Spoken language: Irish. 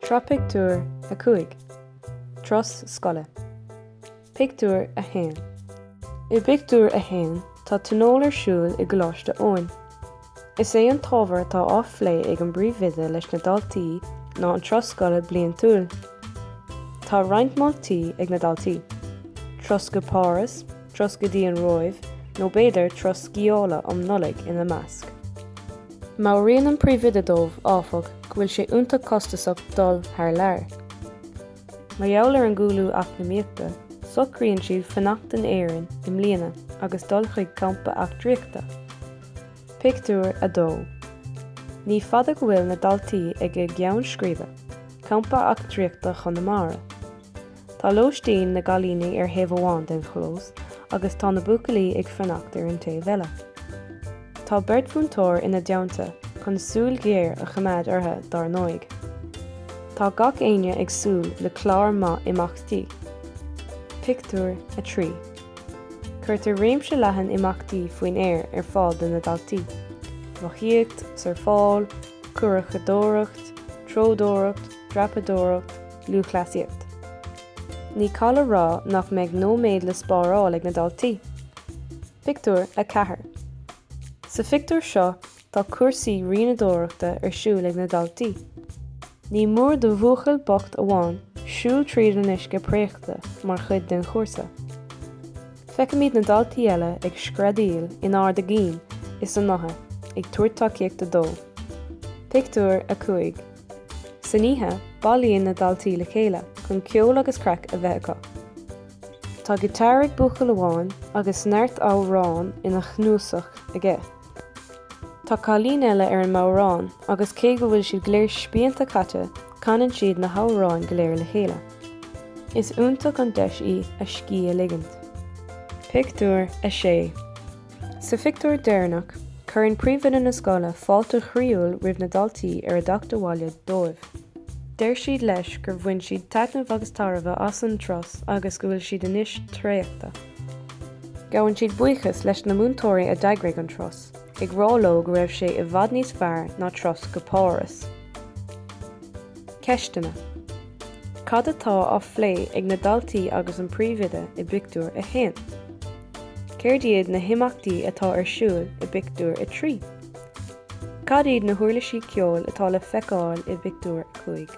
Sraith pictiúr 5, Turas scoile. Pictiúr 1 I bpictiúr a haon tá tionól ar siúl i gColáiste Eoin. Is é an t-ábhar atá á phlé ag an bpríomhoide leis na daltaí ná an turas scoile bliantúil. Tá roinnt moltaí ag na daltaí, turas go Páras, turas go dtí an Róimh nó b'fhéidir turas sciála um Nollaig ina measc. Meabhraíonn an príomhoide dóibh, áfach, go bhfuil sé iontach costasach dul thar lear. Mar gheall ar an gcúlú eacnamaíochta, socraíonn siad fanacht in Éirinn i mbliana agus dul chuig campa eachtraíochta. Pictiúr 2 Ní fada go bhfuil na daltaí ag a gceann scríbe, Campa Eachtraíochta Chonamara. Tá lóistín na gcailíní ar thaobh amháin den chlós agus tá na buachaillí ag fanacht ar an taobh eile. Tá beirt mhúinteoir ina dteannta chun súil ghéar a choimeád orthu dár ndóigh. Tá gach éinne ag súil le clár maith imeachtaí. Pictiúr 3 Cuirtear réimse leathan imeachtaí faoin aer ar fáil do na daltaí, rothaíocht, surfáil, curachadóireacht, treodóireacht, dreapadóireacht, Lúthchleasaíocht Ní call a rá nach mbeidh nóiméad le spáráil ag na daltaí. Pictiúr 4 Sa phictiúr seo tá cúrsaí rianadóireachta ar siúl ag na daltaí. Ní mór do bhuachaill bocht amháin siúl tríd an uisce préachta mar chuid den chúrsa. Feicimid na daltaí eile ag screadaíl in ard a gcinn is a ngutha ag tabhairt tacaíochta dó. Pictiúr 5. San oíche, bailíonn na daltaí le chéile chun ceol agus craic a bheith acu. Tá giotár ag buachaill amháin agus neart amhrán ina chnuasach aige. Tá cailín eile ar an mbodhrán agus cé go bhfuil siad go léir spíonta caite, canann siad na hamhráin go léir le chéile. Is iontach an deis í a scíth a ligint. Pictiúr 6 Sa phictiúr deireanach, cuireann príomhoide na scoile fáilte chroíúil roimh na daltaí ar a dteacht abhaile dóibh. Deir siad leis gur bhain siad taitneamh agus tairbhe as an turas agus go bhfuil siad anois traochta. Gabhann siad buíochas leis na múinteoirí a d'eagraigh an turas, ag rá leo go raibh sé i bhfad níos fearr ná turas go Páras. Ceisteanna, Cad atá á phlé ag na daltaí agus an príomhoide i bpictiúr a haon? Céard iad na himeachtaí atá ar siúl i bpictiúr a trí? Cad iad na huirlisí ceoil atá le feiceáil i bpictiúr a cúig?